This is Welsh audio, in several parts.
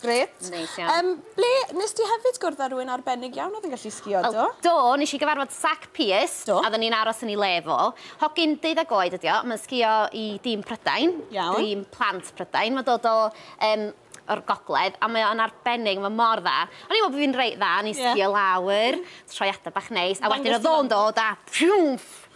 Grêt. Neis iawn. Yym ble... Nes di hefyd gwrdd â rhywun arbennig iawn oedd yn gallu sgïo, do? Wel, do, nes i gyfarfod Zac Pearce. Do. A oedden ni'n aros yn ei le fo. Hogyn deuddeg oed ydi o, mae'n sgïo i dîm Prydain. Iawn. Dîm plant Prydain. Mae'n dod o yym o'r gogledd a mae o'n arbennig, mae mor dda. O'n i'n meddwl bo' fi'n reit dda, o'n i'n sgïo lawr, troiada bach neis, a wedyn o'dd o'n dod a pfiwmff!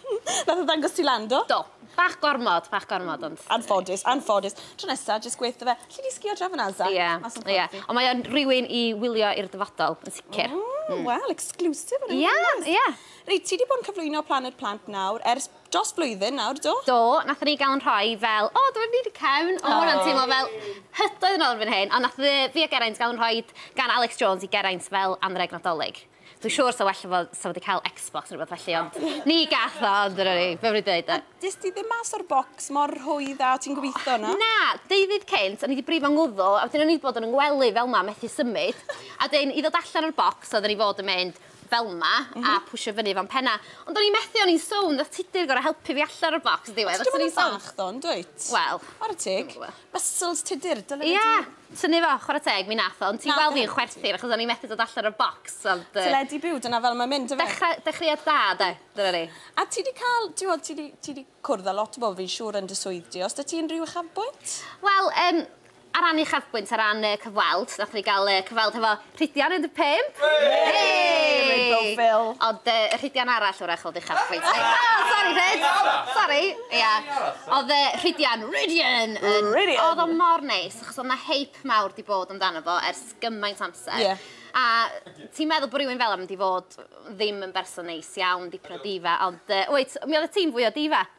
Nath e ddangos ti lan do? Do. Bach gormod bach gormod ond... Anffodus anffodus. Tro nesa jyst gweu' 'tho fe alli di sgïo draw fan 'na Zara? Ie Mas o'n corff fi. Ie. Ond mae o'n rywun i wylio i'r dyfodol yn sicir. O wel exclusive fan 'yn. Ie ie. Reit ti 'di bod yn cyflwyno Planed Plant nawr ers dros flwyddyn nawr do? Do nathon ni ga'l 'yn rhoi fel o dyma ni 'di cefn o ma' wnna'n teimlo fel hydoedd yn ôl erbyn hyn ond nath yy fi a Geraint ga'l 'yn rhoid gan Alex Jones i Geraint fel anrheg Nadolig. Dwi'n siŵr sa well fo sa wedi cael Xbox neu rhywbeth felly, ond ni gath o, ond dyna ni, be am ni dweud de? A des di ddim mas o'r bocs mor rhwydd a o ti'n gobeithio, na? Na, deuddydd cynt, o'n i wedi brifo ngwddw, a wedyn o'n i wedi bod yn yngwely fel ma, methu symud, a wedyn i ddod allan o'r bocs oedden ni fod yn mynd fel ma, a mhm. pwysio fyny fo'n penna. Ond o'n i'n methu, o'n i'n sownd, a tudur gorau helpu fi allan o'r bocs ddiwedd. Ti'n gwybod yn fach ddo, yn dwyt? Wel. Ar y teg. Muscles tudur, dyna yeah. Tynnu fo, chwarae teg, mi nath o, ond ti weld fi'n chwerthin achos o'n i methu dod allan o'r bocs, ond... Teledu byw, dyna fel mae'n mynd, do fe? Dechreuad da, de, dyna ni. A ti wedi cael, ti'n gwybod, ti wedi cwrdd â lot o bobl fi'n siŵr yn dy swydd di, os da ti unrhyw uchafbwynt? Wel, ar ran uchafbwynt, ar ran cyfweld, nath ni gael cyfweld hefo Rhidian 15! Reit bow Phil. Ond yy y Rhidian arall 'w'rach o'dd uchaf chwaith. O sori Rhyd! Sori! Ia. O'dd yy Rhidian, Rhidian yn... Rhidian! O'dd o mor neis achos o'dd 'na hype mawr 'di bod amdano fo ers gymaint o amser. Ie. A ti'n meddwl bo' rywun fel 'a mynd i fod ddim yn berson neis iawn, dipyn o diva, ond yy wyt, mi oddet ti'n fwy o diva.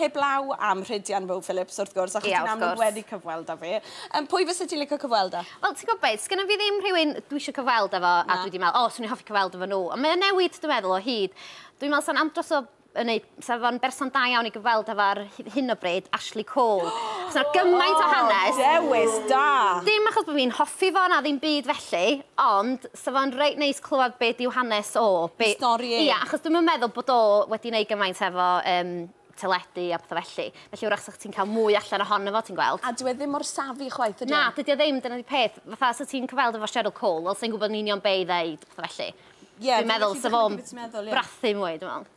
Heblaw am Rhydian Rowe Phillips wrth gwrs achos ti'n amlwg wedi cyfweld â fe. Yym pwy fyse ti'n licio cyfweld â? Wel ti'n gwybod be, sgynna fi ddim rhywun dwi eisiau cyfweld â fo a dwi wedi meddwl, o, swn i'n hoffi cyfweld efo nhw. Ond mae o'n newid dwi'n meddwl o hyd. Dwi'n meddwl sa'n andros o yn ei... Sa fo'n berson da iawn i gyfweld efo ar hyn o bryd, Ashley Cole. Sa gymaint o hanes. O, dewis da! Dim achos bod fi'n hoffi fo na ddim byd felly, ond Sa fo'n reit neis clywed be dyw hanes o. Be... Stori e. Ia, achos dwi'm yn meddwl bod o wedi neud gymaint efo yym teledu a petha felly. Felly 'w'rach sa chdi'n cael mwy allan ohono fo, ti'n gweld. A dyw e ddim mor savvy chwaith ydy e? Na, dydy o ddim, dyna 'di peth. Fatha, sa ti'n cyfweld efo Cheryl Cole, wel sai'n gwybod yn union be' i ddeud, petha felly. Ie, fi'n gallu dychmygu be' ti'n meddwl, ie. Dwi'n meddwl sa fo'n brathu mwy, dwi'n meddwl.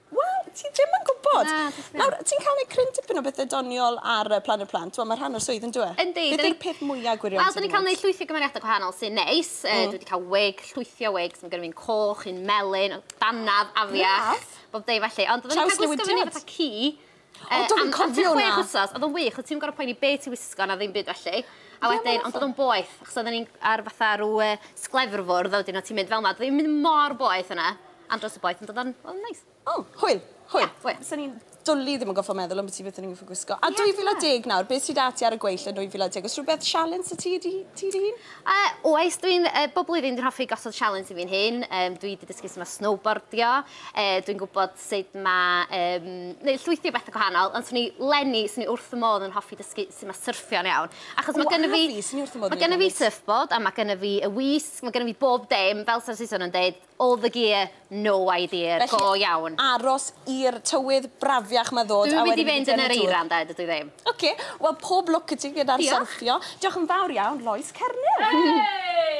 Wel, ti ddim yn gwybod. Na, dwi ddim. Nawr, ti'n cael gwneud cryn dipyn o bethau doniol ar yy Planed Plant, wel, mae rhan o'r swydd, yn dwi e? Yndi, Beth yw'r peth mwya' gwirion Wel, dyn ni'n cael gwneud llwythi gymeriadau gwahanol sy'n neis. Yy, mm. dwi wedi cael wig, llwythio wig, sy'n gyrru fi'n coch, un melyn, danaf, afiach, bob dei felly. Ond oedden ni'n cael gwisgo fyny fatha ci, O, dwi'n yn cofio hwnna. Chwech wsos, oedd o'n wych, oedd ti'n gorau poeni be ti wisgo na ddim byd felly. A wedyn, ond oedd o'n boeth, achos oedden ni'n ar fatha rhyw uh, sglefrfwrdd, a wedyn o ti'n mynd fel yna, oedd o'n mynd mor boeth yna, am dros y boeth, ond oedd o'n oh, neis. O, hwyl, hwyl. Yeah, hwyl. Sa'n ni'n dwli ddim yn goffa meddwl am beth i beth ni'n goffa gwisgo. A 2010 nawr, beth sydd ati ar y gweill yn 2010? Os rhywbeth sialens y ti di, ti di hun? Uh, oes, dwi'n uh, bob blwyddyn dwi'n hoffi gosod sialens i fi'n hun. Um, dwi wedi dysgu sy'n snowboardio. Uh, dwi'n gwybod sut ma', yym, neud llwythi o bethe gwahanol, ond swn i, leni, swn i wrth fy modd yn hoffi dysgu su' ma' syrffio'n iawn. Achos ma' gynno fi... O, a fi, swn i wrth fy modd yn neud tennis. ...ma' gynno fi surfboard a ma' gynno fi y wisg, ma' gynno fi bob dim, fel sa Saeson yn deud, all the gear, no idea, go iawn. Felly, aros i'r tywydd brafiach 'ma ddod a wedyn... Dw i wedi mynd yn yr eira ynde, dydw i ddim. Oce, wel pob lwc i ti gyda'r syrffio. Diolch. Diolch yn fawr iawn, Lois Cernyn! Hey!